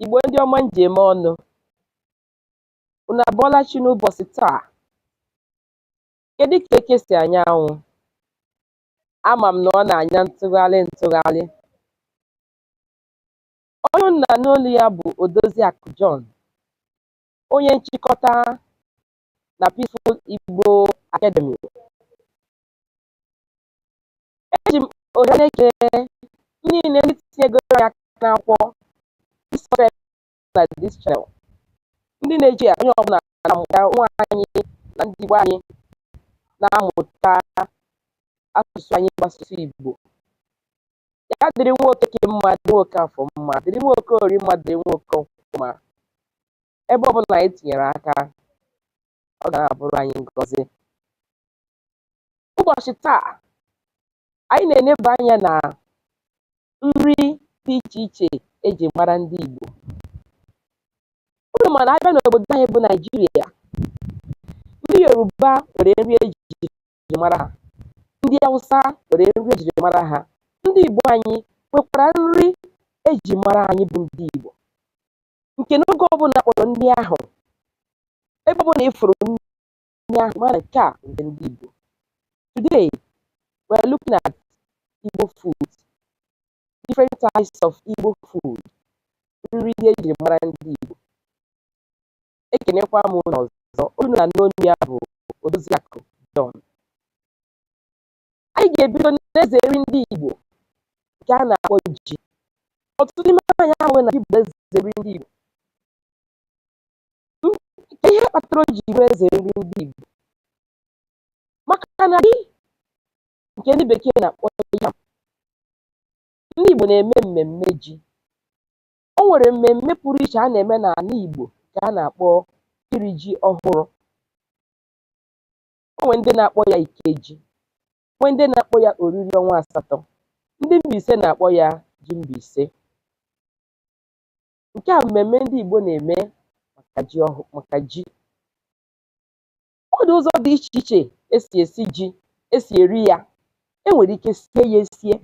Igbo ndị ọma m ji eme ọnụ unu abọọla chi n'ụbọchị taa kedu ka eke si anya anwụ ama m na ọ na-anya ntụgharị ntụgharị onye unu na-anụ olu ya bụ Odoziakụ John onye nchịkọta na Peaceful Igbo Academy Eji m ohere na-ekele ndị niile ndị tinyegoro anyị aka n'akwụkwọ ndị subscribe na this channel. Ndị na-eji ya onye ọbụla na-amụta ụmụ anyị na ndị Igbo anyị na-amụta asụsụ anyị bụ asụsụ Igbo. Ya dịrị nwa Okeke mma, dịrị nwa Okafọ mma, dịrị nwa Okorie mma, dịrị nwa Okonkwọ mma. Ebe ọbụla anyị tinyere aka, ọ ga na-abụrụ anyị ngọzi. Ụbọchị taa, anyị na-eneba anya na nri dị iche iche e ji mara ndị Igbo. Unu ma na a bịa n'obodo anyị bụ Naijiria, ndị Yoruba nwere nri ejiri mara ha, ndị Hausa nwere nri ejiri mara ha, ndị Igbo anyị nwekwara nri eji mara anyị bụ ndị Igbo nke n'oge ọbụla a kpọrọ nri ahụ ebe ọbụla ị fụrụ nri ahụ ma na nke a nke ndị Igbo today we are looking at Igbo food different types of Igbo food nri ndị ejiri mara ndị Igbo ekenekwa m unu ọzọ onye unu na-anụ onu ya bụ Odoziakụ John anyị ga-ebido n'eze nri ndị Igbo nke a na-akpọ ji ọtụtụ n'ime anyị amaghị na ji bụ eze nri ndị Igbo ihe kpatara o ji bụrụ eze nri ndị Igbo maka na ji nke ndị bekee na-akpọ yam ndị Igbo na-eme mmemme ji o nwere mmemme pụrụ iche a na-eme n'ana Igbo nke a na-akpọ iri ji ọhụrụ o nwere ndị na-akpọ ya ikeji nwee ndị na-akpọ ya oriri ọnwa asatọ ndị Mbaise na-akpọ ya ji Mbaise nke a mmemme ndị Igbo na-eme maka ji ọ dị ụzọ dị iche iche e si esi ji e si eri ya e nwere ike sie ya esie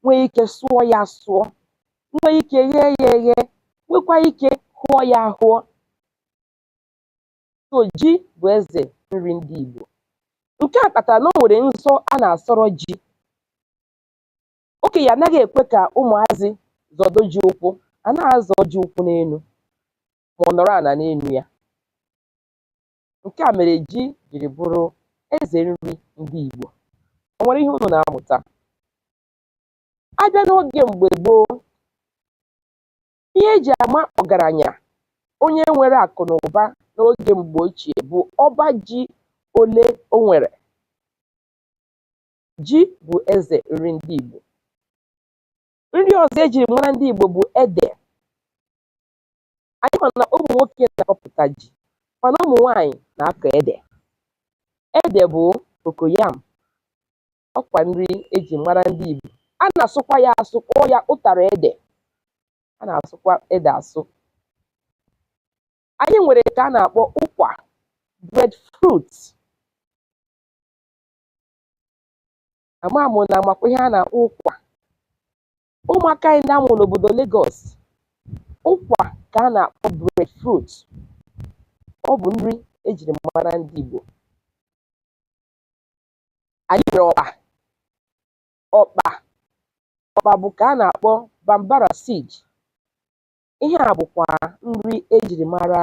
nwee ike sụọ ya asụọ nwee ike ghee ya eghe nwekwaa ike hụọ ya ahụọ So ji bụ eze nri ndị Igbo. Nke a kpatara na o nwere nsọ a na-asọrọ ji. Okenye anaghị ekwe ka ụmụazị zọdo ji ụkwụ, a na-azọ ji ụkwụ n'enu ma ọ nọrọ ana n'enu ya. Nke a mere ji jiri bụrụ eze nri ndị Igbo. O nwere ihe unu na-amụta? A bịa n'oge mgbe gboo, Ihe e ji ama ọgaranya onye nwere akụ na ụba n'oge mgbe ochie bụ ọba ji ole o nwere. Ji bụ eze nri ndị Igbo. Nri ọzọ e jiri mara ndị Igbo bụ ede. Anyị ma na ụmụ nwoke na-akọpụta ji mana ụmụ nwaanyị na-akọ ede. Ede bụ cocoyam. ọkwa nri eji mara ndị Igbo a na-asụkwa ya asụ kpọọ ya ụtara ede a na-asụkwa ede asụ anyị nwere nke a na-akpọ ụkwa breadfruit ama m na amakwa ihe a na-akpọ ụkwa ụmụaka anyị ndị amụ n'obodo Lagos ụkwa ka a na-akpọ breadfruit ọ bụ nri ejiri mara ndị Igbo anyị nwere ọkpa ọkpa ọkpa bụ ka a na-akpọ bambara seed ihe a bụkwa nri ejiri mara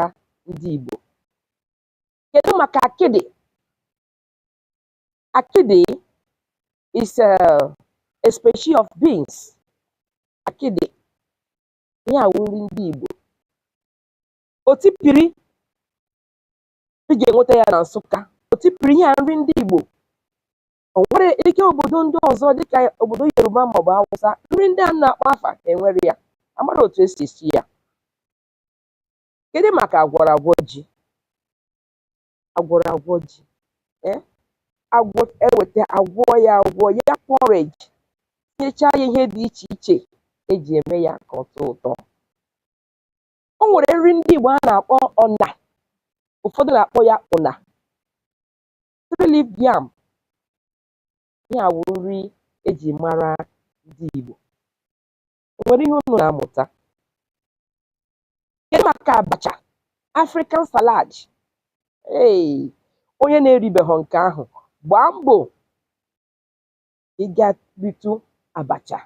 ndị Igbo kedu maka akịdị akịdị is a species of beans akịdị ihe a wụ nri ndị Igbo otipiri ị ga-enweta ya na Nsụka otipiri ihe a nri ndị Igbo o nwere ike obodo ndị ọzọ dịka obodo Yoruba maọbụ Hausa nri ndị a na-akpọ afa enwere ya amara otu esi esi ya kedu maka agwọrọ agwọ ji agwọrọ agwọ ji ee agwọ eweta agwọ ya agwọ ya porridge tinyechaa ya ihe dị iche iche eji eme ya ka ọ tọọ ụtọ o nwere nri ndị Igbo a na-akpọ ọna ụfọdụ na-akpọ ya ụna three leaf yam ihe a wụ nri eji mara ndị Igbo o nwere ihe unu na-amụta kedu maka abacha African salad ee onye na-eribeghị nke ahụ gbaa mbọ ịga ritụ abacha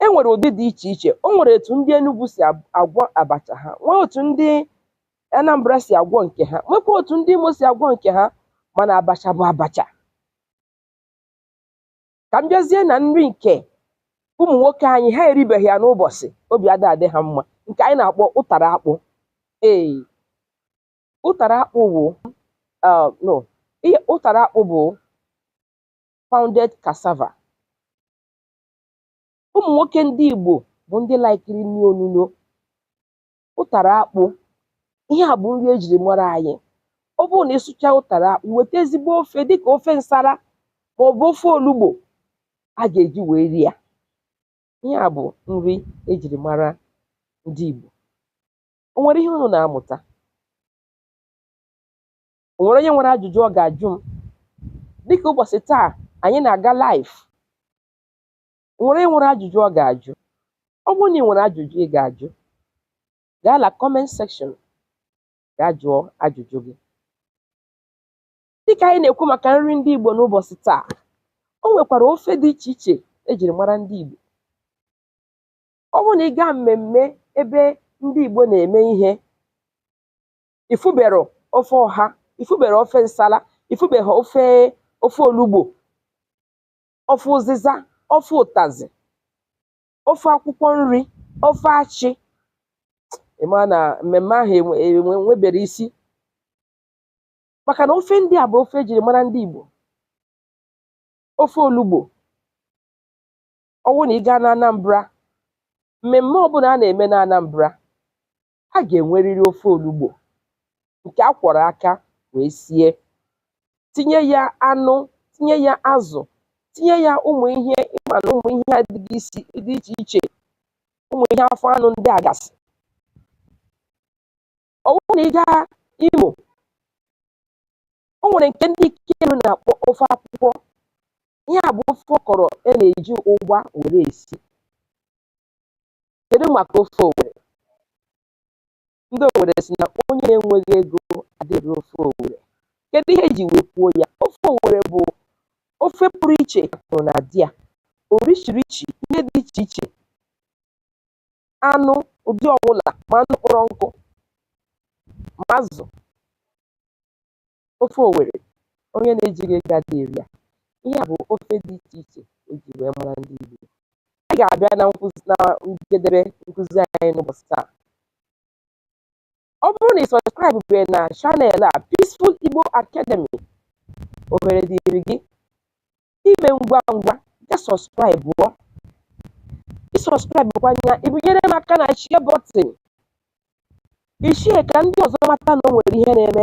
e nwere ụdị dị iche iche o nwere etu ndị Enugu si ab- agwọ abacha ha nwee otu ndị Anambra si agwọ nke ha nwekwa otu ndị Imo si agwọ nke ha mana abacha bụ abacha ka m bịazie na nri nke ụmụ nwoke anyị ha eribeghị ya n'ụbọchị obi ada adị ha mma nke anyị na-akpọ ụtara akpụ ee ụtara akpụ bụ ah, no ihe ụtara akpụ bụ pounded cassava ụmụ nwoke ndị Igbo bụ ndị laikiri nri onuno ụtara akpụ ihe a bụ nri ejiri mara anyị ọ bụrụ na ịsụcha ụtara akpụ weta ezigbo ofe dịka ofe nsara ma ọ bụ ofe olugbo a ga-eji wee rie ya ihe a bụ nri ejiri mara ndị Igbo o nwere ihe unu na-amụta o nwere onye nwere ajụjụ ọ ga-ajụ m dịka ụbọchị taa anyị na-aga live O nwere onye nwere ajụjụ ọ ga-ajụ? Ọ bụrụ na ị nwere ajụjụ ị ga-ajụ, gaa na comment section gaa jụọ ajụjụ gị. Dịka anyị na-ekwu maka nri ndị Igbo n'ụbọchị taa, o nwekwara ofe dị iche iche e jiri mara ndị Igbo. Ọ bụrụ na ị gaa mmemme ebe ndị Igbo na-eme ihe, ị fụbero ofe ọha, ị fụbero ofe nsala, ị fụbero ofe olugbo, ofe ụzịza ofe ụtazị ofe akwụkwọ nri ofe achị ịma na mmemme ahụ enwe- enwe- enwebero isi maka na ofe ndị a bụ ofe ejiri mara ndị Igbo ofe olugbo ọwụ na ị gaa na Anambra mmemme ọbụla a na-eme na Anambra a ga-enwerịrị ofe olugbo nke a kwọrọ aka wee sie tinye ya anụ tinye ya azụ tinye ya ụmụ ihe ịma na ụmụ ihe dị iche iche ụmụ ihe afọ anụ ndị a gasị ọ bụrụ na ị gaa Imo o nwere nke ndị Ikeduru na-akpọ ofe akwụkwọ ihe a bụ ofe ọkọrọ e na-eji ụgba were esi kedu maka ofe owere ndị owere si na onye na-enweghị ego adịghị eri ofe owere kedu ihe eji wee kwuo ya ofe owere bụ ofe pụrụ iche akụrụngwa dị ya orishirishi ihe dị iche iche anụ ụdị ọbụla ma anụ kpọrọ nkụ ma azụ ofe owere onye na-ejighị ego adịghị eri ya ihe a bụ ofe dị iche iche eji wee mara ndị Igbo anyị ga-abịa na njedebe nkụzi anyị n'ụbọchị taa ọ bụrụ na ị sọskraịbụ bee na channel a Peaceful Igbo Academy ohere dịrị gị ime ngwa ngwa gaa sọskraịbụọ ịsọskraịbụkwa ya ịbịnyere m aka na share button ị share ka ndị ọzọ mata na o nwere ihe na-eme